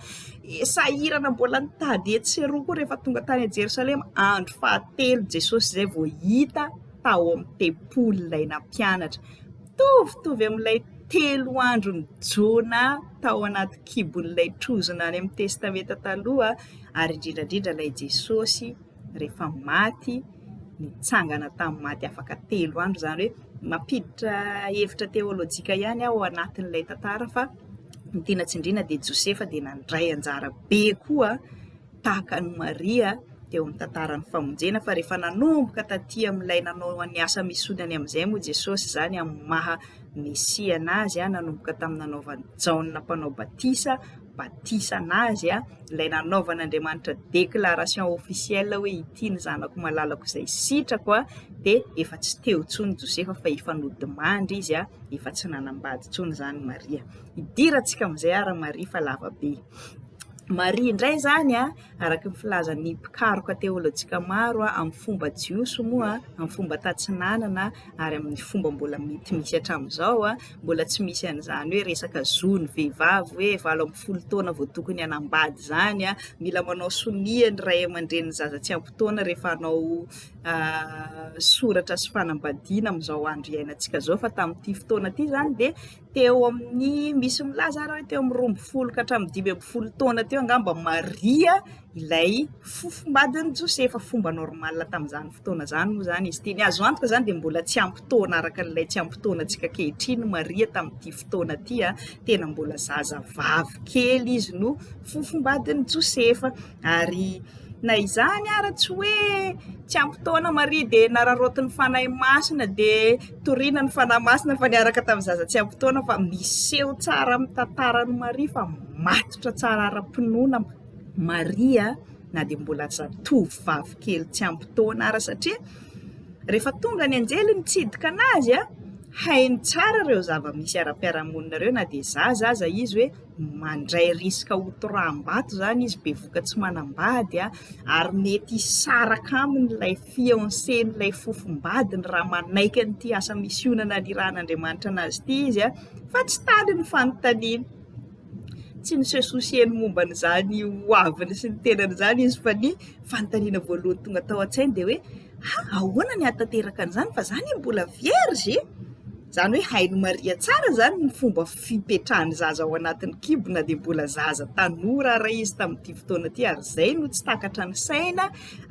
sahirana mbola nitady etsy sy eroa koa rehefa tonga tany Jerosalema, andro fahatelo Jesosy izay vao hita tao amin'ny tempoly ilay nampianatra. mitovitovy amin'ilay telo andron'i Jona tao anaty kibon'ilay trozona any amin'ny Testamenta Taloha, ary indrindra indrindra ilay Jesosy rehefa maty, nitsangana tamin'ny maty afaka telo andro, izany hoe mampiditra hevitra teolojika ihany aho ao anatin'ilay tantara fa ny tiana tsindriana dia Josefa dia nandray anjara be koa. tahaka an'i Maria teo amin'ny tantaran'ny famonjena fa rehefa nanomboka taty amin'ilay nanao ny asa misionany amin'izay moa Jesosy izany amin'ny maha Mesia an'azy, nanomboka tamin'ny nanaovan'i Jaona mpanao batisa batisa an'azy, ilay nanaovan'Andriamanitra déclaration officielle hoe ity ny zanako malalako izay sitrako a, dia efa tsy teo intsony Josefa fa efa nodimandry izy a, efa tsy nanambady intsony izany Maria. hidirantsika amin'izay ary Maria fa lava be. Maria indray izany a, araka ny filazan'ny mpikaroka teolojika maro a, amin'ny fomba jiosy moa, amin'ny fomba tatsinanana ary amin'ny fomba mbola mety misy hatramin'izao a, mbola tsy misy an'izany hoe resaka zon'ny vehivavy hoe valo ambin'ny folo taona vao tokony hanambady izany a, mila manao sonia ny ray aman-drenin'ny zaza tsy ampy taona rehefa hanao soratra sy fanambadiana amin'izao andro iainantsika izao fa tamin'ity fotoana ity izany dia teo amin'ny misy milaza ary hoe teo amin'ny roa ambin'ny folo ka hatramin'ny dimy ambin'ny folo taona teo angamba Maria ilay fofombadin'i Josefa, fomba normal tamin'izany fotoana izany moa izany izy ity, ny azo antoka izany dia mbola tsy ampy taona araka an'ilay tsy ampy taona antsika ankehitriny i Maria tamin'ity fotoana ity an, tena mbola zazavavy kely izy no fofombadin'i Josefa. Ary na izany ara tsy hoe tsy ampy taona Maria dia nararaotin'ny Fanahy Masina dia toriana ny Fanahy Masina fa niaraka tamin'ny zaza tsy ampy taona fa miseho tsara amin'ny tantaran'i Maria fa matotra tsara ara-pinoana Maria na dia mbola zatovovavy kely tsy ampy taona ara satria rehefa tonga ny anjely nitsidika anazy a hainy tsara ireo zava-misy ara-piarahamonina ireo na dia zaza aza izy hoe mandray risque ho toraham-bato izany izy, bevoka tsy manambady ary mety hisaraka aminy ilay fiancé n'ilay fofombadiny raha manaiky an'ity asa misiona nanirahan'Andriamanitra an'azy ity izy fa tsy tany ny fanontaniany, tsy ny se soucier-ny momba an'izany ho aviny sy ny tenany izany izy fa ny fanontaniana voalohany tonga tao an-tsainy dia hoe. Ha! Ahoana ny hahatanteraka an'izany fa za anie mbola vierge e! Izany hoe hain'i Maria tsara izany ny fomba fipetrahan'ny zaza ao anatin'ny kibo na dia mbola zaza tanora ary izy tamin'ity fotoana ity ary izay no tsy takatra ny saina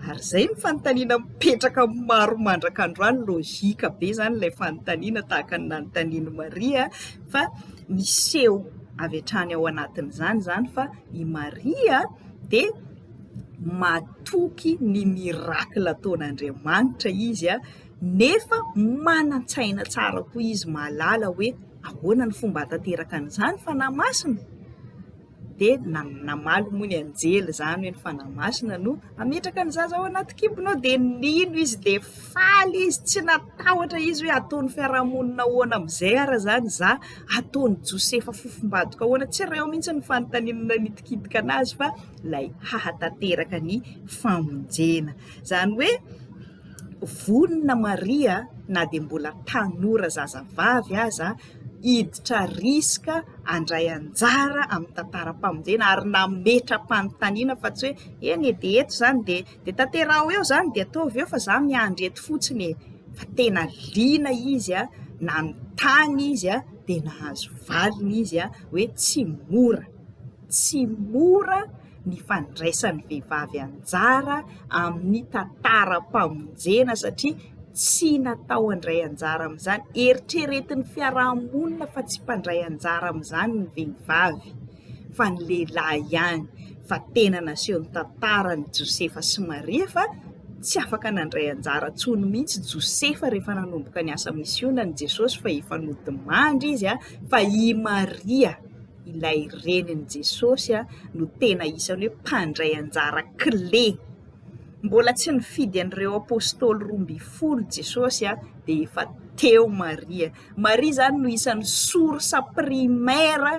ary izay ny fanontaniana mipetraka maro mandraka androany logika be izany ilay fanontaniana tahaka ny nanontanian'i Maria fa miseho avy hatrany ao anatin'izany izany fa i Maria dia matoky ny miracle ataon'Andriamanitra izy nefa manan-tsaina tsara koa izy mahalala hoe ahoana ny fomba hanatanteraka an'izany fanahy masina dia namaly moa ny anjely izany hoe ny fanahy masina no hametraka ny zaza ao anaty kibonao dia nino izy dia faly izy tsy natahotra izy hoe ataon'ny fiarahamonina ahoana amin'izay ary izany izaho, ataon'i Josefa fofombadiko ahoana, tsy ireo mihintsy ny fanontaniana nitikitika an'azy fa. ilay hahatanteraka ny famonjena. Izany hoe vonona Maria na dia mbola tanora zazavavy aza hiditra riska handray anjara amin'ny tantaram-pamonjena ary nametra-panontaniana fa tsy hoe eny e dia eto izany dia dia tanteraho eo izany dia ataovy eo fa izaho miandry eto fotsiny e. Fa tena liana izy a, nanontany izy a, dia nahazo valiny izy a, hoe tsy mora. Tsy mora ny fandraisan'ny vehivavy anjara amin'ny tantaram-pamonjena satria tsy natao handray anjara amin'izany. Eritreretin'ny fiaraha-monina fa tsy mpandray anjara amin'izany ny vehivavy fa ny lehilahy ihany, fa tena naseho ny tantaran'i Josefa sy Maria fa tsy afaka nandray anjara intsony mihitsy Josefa rehefa nanomboka niasa misionan'i Jesosy fa efa nodimandry izy fa i Maria ilay renin'i Jesosy no tena isan'ny hoe mpandray anjara kle. Mbola tsy nifidy an'ireo apôstôly roa ambin'ny folo Jesosy dia efa teo Maria. Maria izany no isan'ny source primaire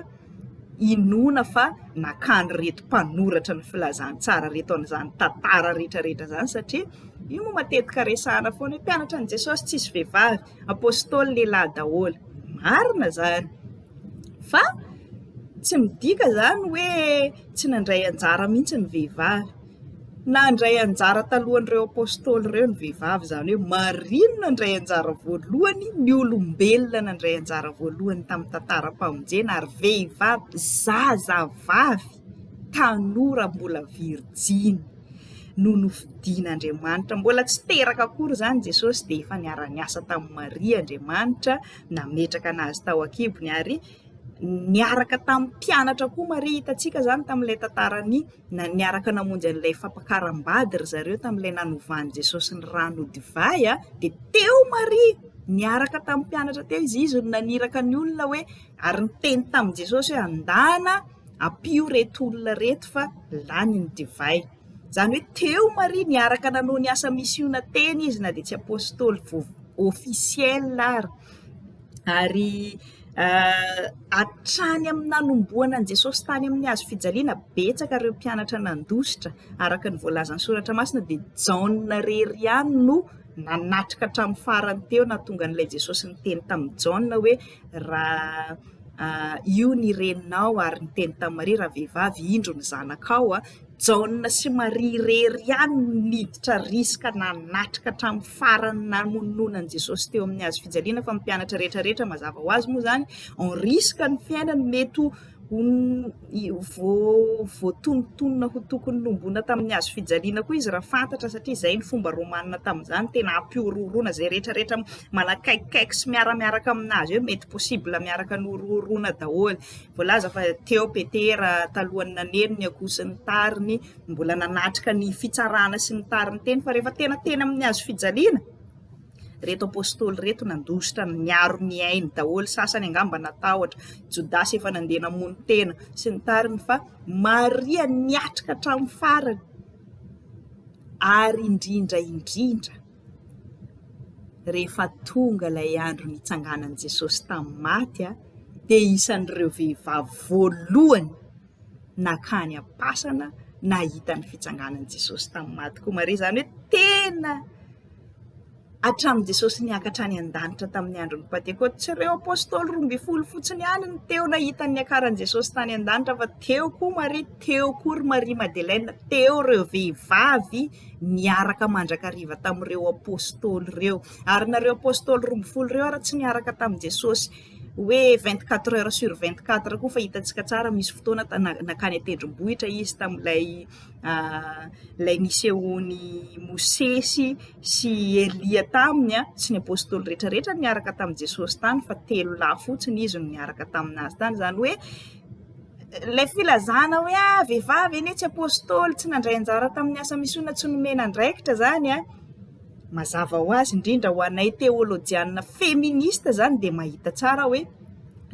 inoana fa nakan'ireto mpanoratra ny filazantsara reto an'izany tantara rehetrarehetra izany satria io no matetika resahana foana hoe mpianatra an'i Jesosy tsisy vehivavy, apôstôly lehilahy daholo. Marina izany. Fa tsy midika izany hoe tsy nandray anjara mihitsy ny vehivavy. Nandray anjara talohan'ireo Apôstôly ireo ny vehivavy, izany hoe marina nandray anjara voalohany ny olombelona nandray anjara voalohany tamin'ny tantaram-pamonjena ary vehivavy zazavavy tanora mbola virijiny no nofidin'Andriamanitra. Mbola tsy teraka akory izany Jesôsy dia efa niara-niasa tamin'i Maria Andriamanitra. nametraka anazy tao an-kibony ary niaraka tamin'ny mpianatra koa Maria hitantsika izany tamin'ilay tantarany na niaraka namonjy an'ilay fampakaram-bady ry zareo tamin'ilay nanovan'i Jesosy ny rano ho divay a dia teo Maria niaraka tamin'ny mpianatra teo izy izy no naniraka ny olona hoe ary niteny tamin'i Jesosy hoe andana ampio reto olona reto fa lany ny divay Izany hoe teo Maria niaraka nanao ny asa misiona teny izy na dia tsy apostoly vo- officiel ary, ary hatrany amin'ny nanomboana an'i Jesosy tany amin'ny hazo fijaliana betsaka ireo mpianatra nandositra araka ny voalazan'ny soratra masina dia Jaona irery ihany no nanatrika hatramin'ny farany teo nahatonga an'ilay Jesosy niteny tamin'i Jaona hoe raha io ny reninao ary niteny tamin'i Maria raha vehivavy indro ny zanakao a, Jaona sy Maria irery ihany no niditra risika nanatrika hatramin'ny farany ny namonoana an'i Jesosy teo amin'ny hazo fijaliana, fa ny mpianatra rehetra rehetra mazava ho azy moa izany en risque ny fiainany mety ho voatonontonona ho tokony nombona tamin'ny hazo fijaliana koa izy raha fantatra satria izay ny fomba romanina tamin'izany tena hampihorohoroana izay rehetra rehetra manakaikikaiky sy miaramiaraka aminazy eo mety possible miaraka ny horohoroana daholo Voalaza fa teo Petera talohan'ny naneno ny akoho sy ny tariny, mbola nanatrika ny fitsarana sy ny tariny teny, fa rehefa tena teny amin'ny hazo fijaliana, reto apostoly reto nandositra niaro ny ainy daholo, sasany angamba natahotra, Jodasy efa nandeha namono tena sy ny tariny fa Maria niatrika hatramin'ny farany ary indrindra indrindra Rehefa tonga ilay andro nitsanganan'i Jesosy tamin'ny maty dia isan'ireo vehivavy voalohany nankany am-pasana nahita ny fitsanganan'i Jesosy tamin'ny maty koa Maria, izany hoe tena hatramin'i Jesosy niakatra hatrany an-danitra tamin'ny andron'ny pantekoty, tsy ireo apostoly roa ambin'ny folo fotsiny ihany no teo nahita ny niakaran'i Jesosy tany an-danitra fa teo koa Maria, teo koa ry Maria Madeleine, teo ireo vehivavy. niaraka mandrakariva tamin'ireo Apôstôly ireo. Ary nareo Apôstôly roa ambin'ny folo ireo ary tsy niaraka tamin'i Jesôsy hoe vingt quatre heures sur vingt quatre koa fa hitantsika tsara misy fotoana nakany an-tendrombohitra izy tamin'ilay ah, ilay nisehoan'i Mosesy sy Elia taminy ah, tsy ny Apôstôly rehetrarehetra niaraka tamin'i Jesôsy tany fa telo lahy fotsiny izy no niaraka tamin'azy tany. Izany hoe Ilay filazana hoe ah vehivavy anie tsy apostoly, tsy nandray anjara tamin'ny asa misiona, tsy nomena andraikitra izany an, mazava ho azy indrindra ho anay teolojiana feminista izany dia mahita tsara hoe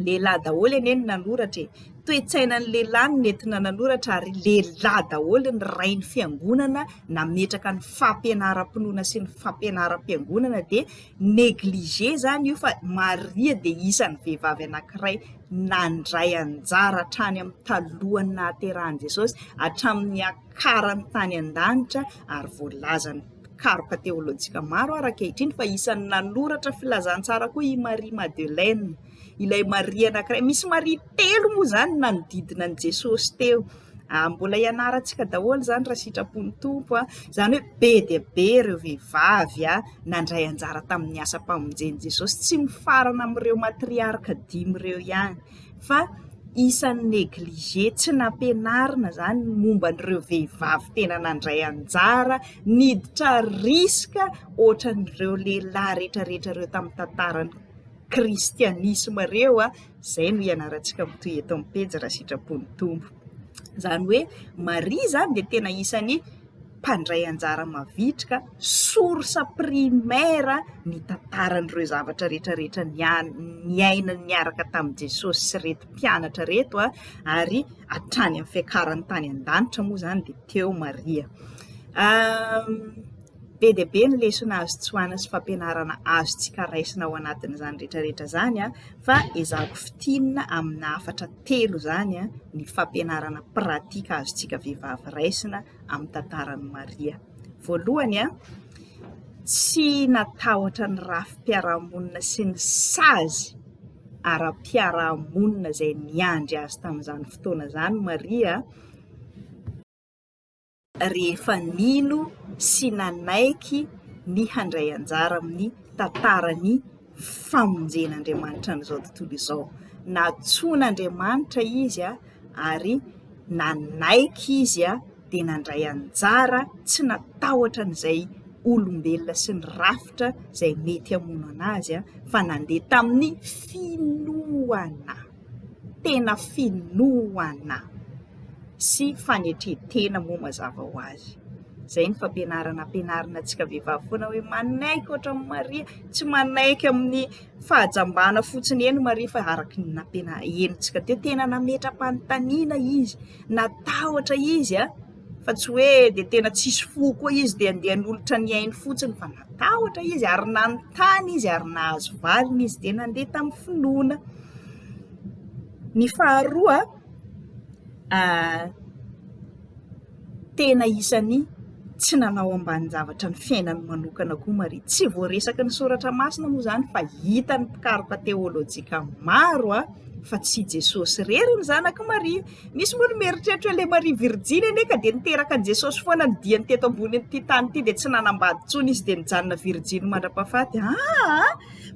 lehilahy daholo anie no nanoratra e, toe-tsainan'ny lehilahy no nentina nanoratra ary lehilahy daholo ny rain'ny fiangonana nametraka ny fampianaram-pinoana sy ny fampianaram-piangonana dia Negligé izany io fa Maria dia isan'ny vehivavy anankiray nandray anjara hatrany amin'ny talohan'ny nahaterahan'i Jesosy, hatramin'ny niakarany tany an-danitra ary voalazan'ny mpikaroka teolojika maro ary ankehitriny fa isan'ny nanoratra filazantsara koa i Marie Madeleine. ilay Maria anankiray. Misy Maria telo moa izany nanodidina an'i Jesosy teo. Ah, mbola ianarantsika daholo izany raha sitrapon'ny tompo a izany hoe be dia be ireo vehivavy a nandray anjara tamin'ny asam-pamonjen'i jesosy tsy mifarana amin'ireo matriarka dimy ireo ihany fa isan'ny neglige tsy nampianarina izany momba an'ireo vehivavy tena nandray anjara niditra riska ohatran'ireo lehilahy rehetrarehetra ireo tamin'ny tantarany kristianisma ireo a, izay no ianarantsika mitohy eto amin'ny pejy raha sitrapon'ny Tompo. Izany hoe Maria izany dia tena isan'ny mpandray anjara mavitrika, source primaire ny tantaran'ireo zavatra rehetra rehetra nian- niainany niaraka tamin'i Jesosy sy ireto mpianatra ireto a, ary hatrany amin'ny fiakarany tany an-danitra moa izany dia teo Maria. Be dia be ny lesona azo tsoahina sy fampianarana azontsika raisina ao anatin'izany rehetra rehetra izany fa ezahako fintinina amina hafatra telo izany ny fampianarana pratika azontsika vehivavy raisina amin'ny tantaran'i Maria. Voalohany, tsy natahotra ny rafi-piarahamonina sy ny sazy ara-piarahamonina izay niandry azy tamin'izany fotoana izany Maria, rehefa nino sy nanaiky ny handray anjara amin'ny tantaran'ny famonjen'Andriamanitra an'izao tontolo izao. Nantsoin'Andriamanitra izy ary nanaiky izy dia nandray anjara tsy natahotra an'izay olombelona sy ny rafitra izay mety hamono an'azy fa nandeha tamin'ny finoana. tena finoana sy fanetren-tena moa mazava ho azy. Izay no fampianarana ampianarina antsika vehivavy foana hoe manaiky ohatra an'i Maria, tsy manaiky amin'ny fahajambana fotsiny eny Maria fa araka ny nampiana- henontsika teo, tena nametra-panontaniana izy, natahotra izy an! fa tsy hoe de tena tsisy fo koa izy de andeha hanolotra ny ainy fotsiny fa natahotra izy ary nanontany izy ary nahazo valiny izy de nandeha tamin'ny finoana, ny faharoa tena isan'ny tsy nanao ambanin-javatra ny fiainany manokana koa Maria, tsy voaresaka ny soratra masina moa zany fa hitan'ny mpikaroka teolojika maro fa tsy i Jesosy irery ny zanak'i Maria. Misy moa ny mieritreritra hoe ilay Maria Virjiny anie ka dia niteraka an'i Jesosy foana ny diany teto ambonin'ity tany ity dia tsy nanambady intsony izy dia nijanona virjiny mandra-pahafaty. Aa!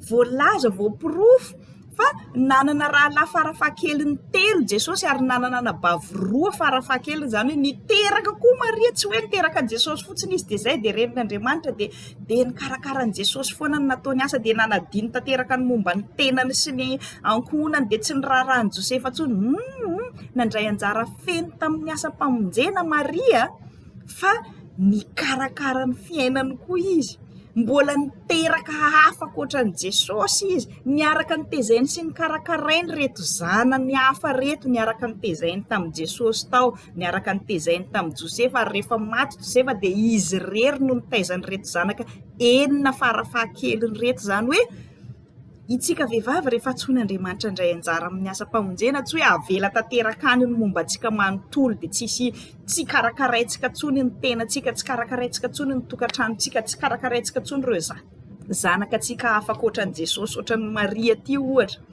Voalaza, voaporofo fa nanana rahalahy farafahakeliny telo Jesosy ary nanana anabavy roa farafahakeliny, izany hoe niteraka koa Maria, tsy hoe niteraka an'i Jesosy fotsiny izy dia izay dia renin'Andriamanitra dia dia nikarakara an'i Jesosy foana ny nataony asa dia nanadino tanteraka ny momba ny tenany sy ny ankohonany dia tsy niraharahan'i Josefa intsony hum nandray anjara feno tamin'ny asam-pamonjena Maria fa nikarakara ny fiainany koa izy mbola niteraka hafa ankoatran'i Jesosy izy niaraka nitezainy sy nikarakarainy reto zanany hafa reto niaraka nitezainy tamin'i Jesosy tao niaraka nitezainy tamin'i Josefa, ary rehefa maty Josefa dia izy irery no nitaiza an'ireto zanaka enina farafahakeliny ireto, izany hoe itsika vehivavy rehefa antsoin' Andriamanitra indray anjara amin'ny asam-pamonjena tsy hoe avela tanteraka any ny momba antsika manontolo dia tsisy tsy karakaraintsika intsony ny tenantsika, tsy karakaraintsika intsony ny tokantranontsika, tsy karakaraintsika intsony ireo zanaka antsika hafa ankoatra an'i Jesosy, ohatran'i Maria ity ohatra.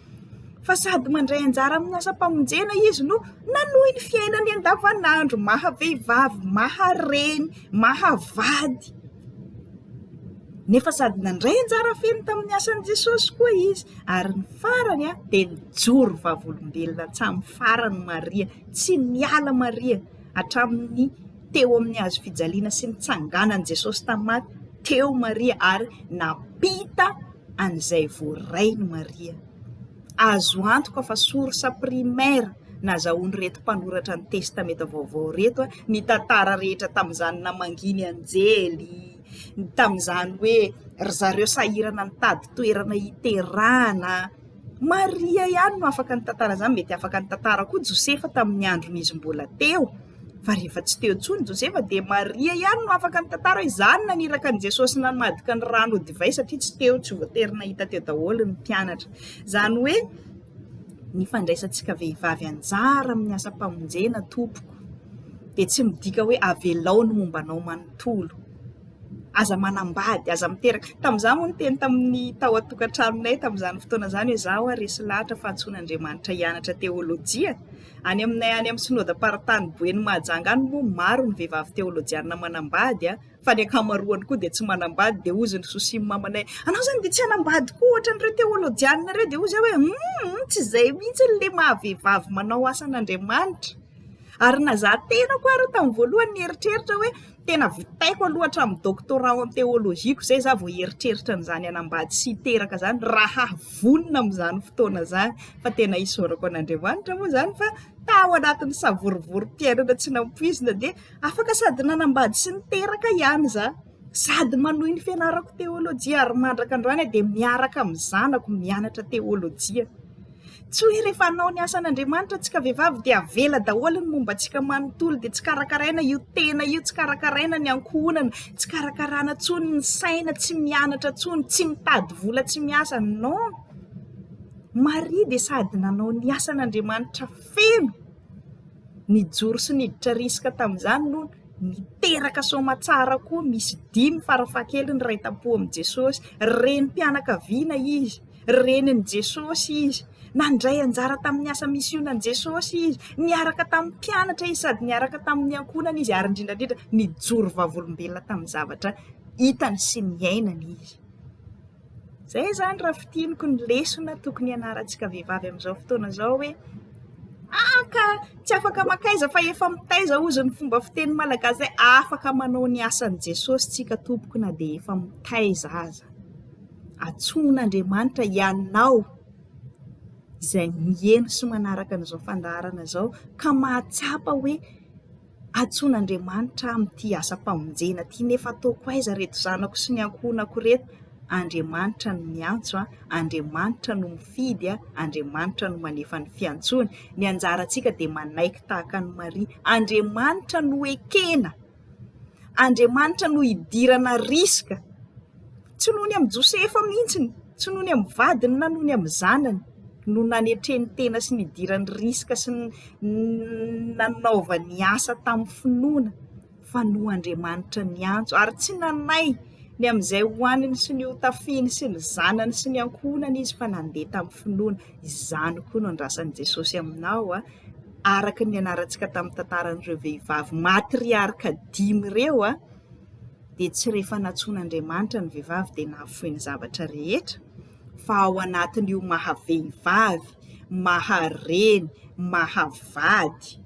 fa sady mandray anjara amin'ny asam-pamonjena izy no nanohy ny fiainany andavanandro maha vehivavy, maha reny, maha vady nefa sady nandray anjara feno tamin'ny asan'i Jesosy koa izy ary ny farany an dia nijoro vavolombelona hatramin'ny farany Maria, tsy niala Maria hatramin'ny teo amin'ny hazo fijaliana sy ny tsanganan'i Jesosy tamin'ny maty teo Maria ary nampita an'izay voarainy Maria. Azo antoka fa source primaire nazahoan'ireto mpanoratra ny Testamenta Vaovao ireto ny tantara rehetra tamin'izany namanginy anjely, tamin'izany hoe ry zareo sahirana nitady toerana hiterahana, Maria ihany no afaka nitantara izany, mety afaka nitantara koa Josefa tamin'ny andron'izy mbola teo, fa rehefa tsy teo intsony Josefa dia Maria ihany no afaka nitantara hoe izany naniraka an'i Jesosy namadika ny rano ho divay satria tsy teo, tsy voatery nahita teo daholo ny mpianatra. Izany hoe ny fandraisantsika vehivavy anjara amin'ny asam-pamonjena tompoko dia tsy midika hoe avelao ny momba anao manontolo. aza manambady, aza miteraka. Tamin'izaho moa no niteny tamin'ny tao an-tokantranonay tamin'izany fotoana izany hoe izaho ho'a resy lahatra fa antsoin'Andriamanitra hianatra teolojia. Any aminay any amin'ny Synodam-paritany Boeny Mahajanga any moa maro ny vehivavy teolojianina manambady fa ny ankamaroany koa dia tsy manambady dia hozy ny sosia mamanay anao izany dia tsy hanambady koa ohatran'ireo teolojianina ireo dia hozy aho hoe hum tsy izay mihitsy ilay maha vehivavy manao asan'Andriamanitra. Ary na izaho tenako ary tamin'ny voalohany nieritreritra hoe Tena vitaiko aloha hatramin'ny doctorat ao amin'ny théologie-ko izay izaho vao hieritreritra an'izany hanambady sy hiteraka izany, raha vonona amin'izany fotoana izany fa tena isaorako an'Andriamanitra moa izany fa tao anatin'ny savorovoro-piainana tsy nampoizina dia afaka sady nanambady sy niteraka ihany izaho, sady manohy ny fianarako théologie ary mandrak'androany aho dia miaraka amin'ny zanako mianatra théologie. Tsy hoe rehefa hanao ny asan'Andriamanitra antsika vehivavy dia avela daholo ny momba antsika manontolo, dia tsy karakaraina io tena io, tsy karakaraina ny ankohonana, tsy karakarana intsony ny saina, tsy mianatra intsony, tsy mitady vola, tsy miasa. Non! Maria dia sady nanao ny asan'Andriamanitra feno, nijoro sy niditra risika tamin'izany no niteraka soamatsara koa misy dimy farafahakeliny iray tam-po amin'i Jesosy, renim-pianakaviana izy. Renin'i Jesosy izy. Nandray anjara tamin'ny asa misionan'i Jesosy izy. Niaraka tamin'ny mpianatra izy sady niaraka tamin'ny ankohonany izy, ary indrindra indrindra, nijoro vavolombelona tamin'ny zavatra hitany sy niainany izy. Izay izany raha fintiniko ny lesona tokony hianarantsika vehivavy amin'izao fotoana izao hoe Ah ka tsy afaka makaiza fa efa mitaiza hozy ny fomba fiteny malagasy izay afaka manao ny asan'i Jesosy tsika tompoko na dia efa mitaiza aza. Antsoin'Andriamanitra ianao izay miheno sy manaraka an'izao fandaharana izao ka mahatsapa hoe antsoin'Andriamanitra aho amin'ity asam-pamonjena ity nefa ataoko aiza ry reto zanako sy ny ankohonako ireto? Andriamanitra no miantso an, Andriamanitra no mifidy an, Andriamanitra no manefa ny fiantsoany, ny anjarantsika dia manaiky tahaka an'i Maria, Andriamanitra no ekena. Andriamanitra no hidirana risika, tsy noho ny amin'i Josefa mihitsy, tsy noho ny amin'ny vadiny na noho ny amin'ny zanany no nanetreny tena sy nidirany risika sy nanaovany asa tamin'ny finoana fa noho Andriamanitra niantso ary tsy nanaiky ny amin'izay ho aniny sy ny ho tafiany sy ny zanany sy ny ankohonany izy fa nandeha tamin'ny finoana, izany koa no andrasan'i Jesosy aminao an! araka ny nianarantsika tamin'ny tantaran'ireo vehivavy matriarka dimy ireo dia tsy rehefa nantsoin'Andriamanitra ny vehivavy dia nahafoy ny zavatra rehetra fa ao anatin'io maha vehivavy, maha reny, maha vady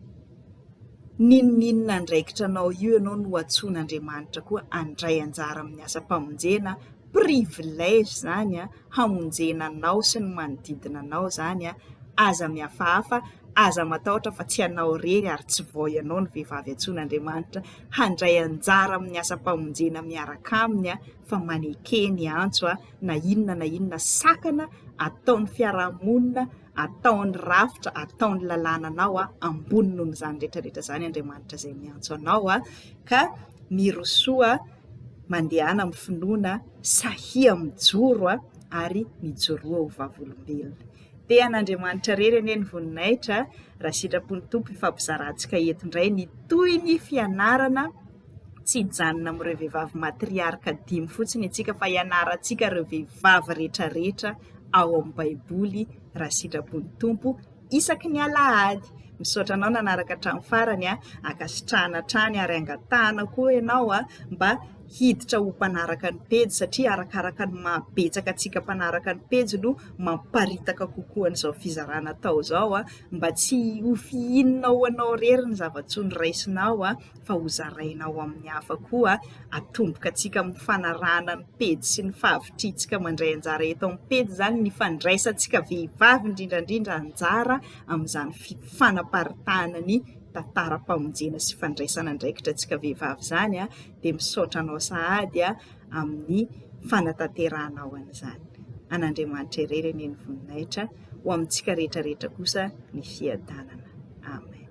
n'inon'inona andraikitra anao io ianao no antsoin'Andriamanitra koa handray anjara amin'ny asam-pamonjena. privilège izany an, hamonjena anao sy ny manodidina anao izany an, aza mihafahafa, aza matahotra fa tsy ianao irery ary tsy vao ianao no vehivavy antsoin'Andriamanitra handray anjara amin'ny asam-pamonjena miaraka aminy an, fa maneke ny antso an, na inona na inona sakana ataon'ny fiaraha-monina, ataon'ny rafitra, ataon'ny lalàna anao an, ambony noho izany rehetra rehetra izany Andriamanitra izay miantso anao an, ka mirosoa. mandehana amin'ny finoana, sahia mijoro ary mijoroa ho vavolombelona. Te an'Andriamanitra irery anie ny voninahitra, raha sitrapon'ny Tompo hifampizarantsika eto indray ny toy ny fianarana tsy hijanona amin'ireo vehivavy matriarka dimy fotsiny isika fa hianarantsika ireo vehivavy rehetra rehetra ao amin'ny baiboly raha sitrapon'ny Tompo. isaky ny alahady. Misaotra anao nanaraka hatramin'ny farany a, ankasitrahana hatrany ary angatahana koa ianao a mba hiditra ho mpanaraka ny pejy satria arakaraka ny maha betsaka antsika mpanaraka ny pejy no mamparitaka kokoa an'izao fizarana atao izao a, mba tsy ho fihinina ho anao rery ny zava-tsoa noraisinao a. fa ho zaraina ao amin'ny hafa koa atomboka antsika amin'ny fanarahana ny pejy sy ny fahavitrihantsika mandray anjara eto amin'ny pejy izany ny fandraisantsika vehivavy indrindra indrindra anjara amin'izany fanaparitahana ny tantaram-pamonjena sy fandraisana andraikitra antsika vehivavy izany a, dia misaotra anao sahady a amin'ny fanatanterahanao an'izany. An'Andriamanitra irery anie ny voninahitra, ho amintsika rehetra rehetra kosa ny fiadanana. Amen.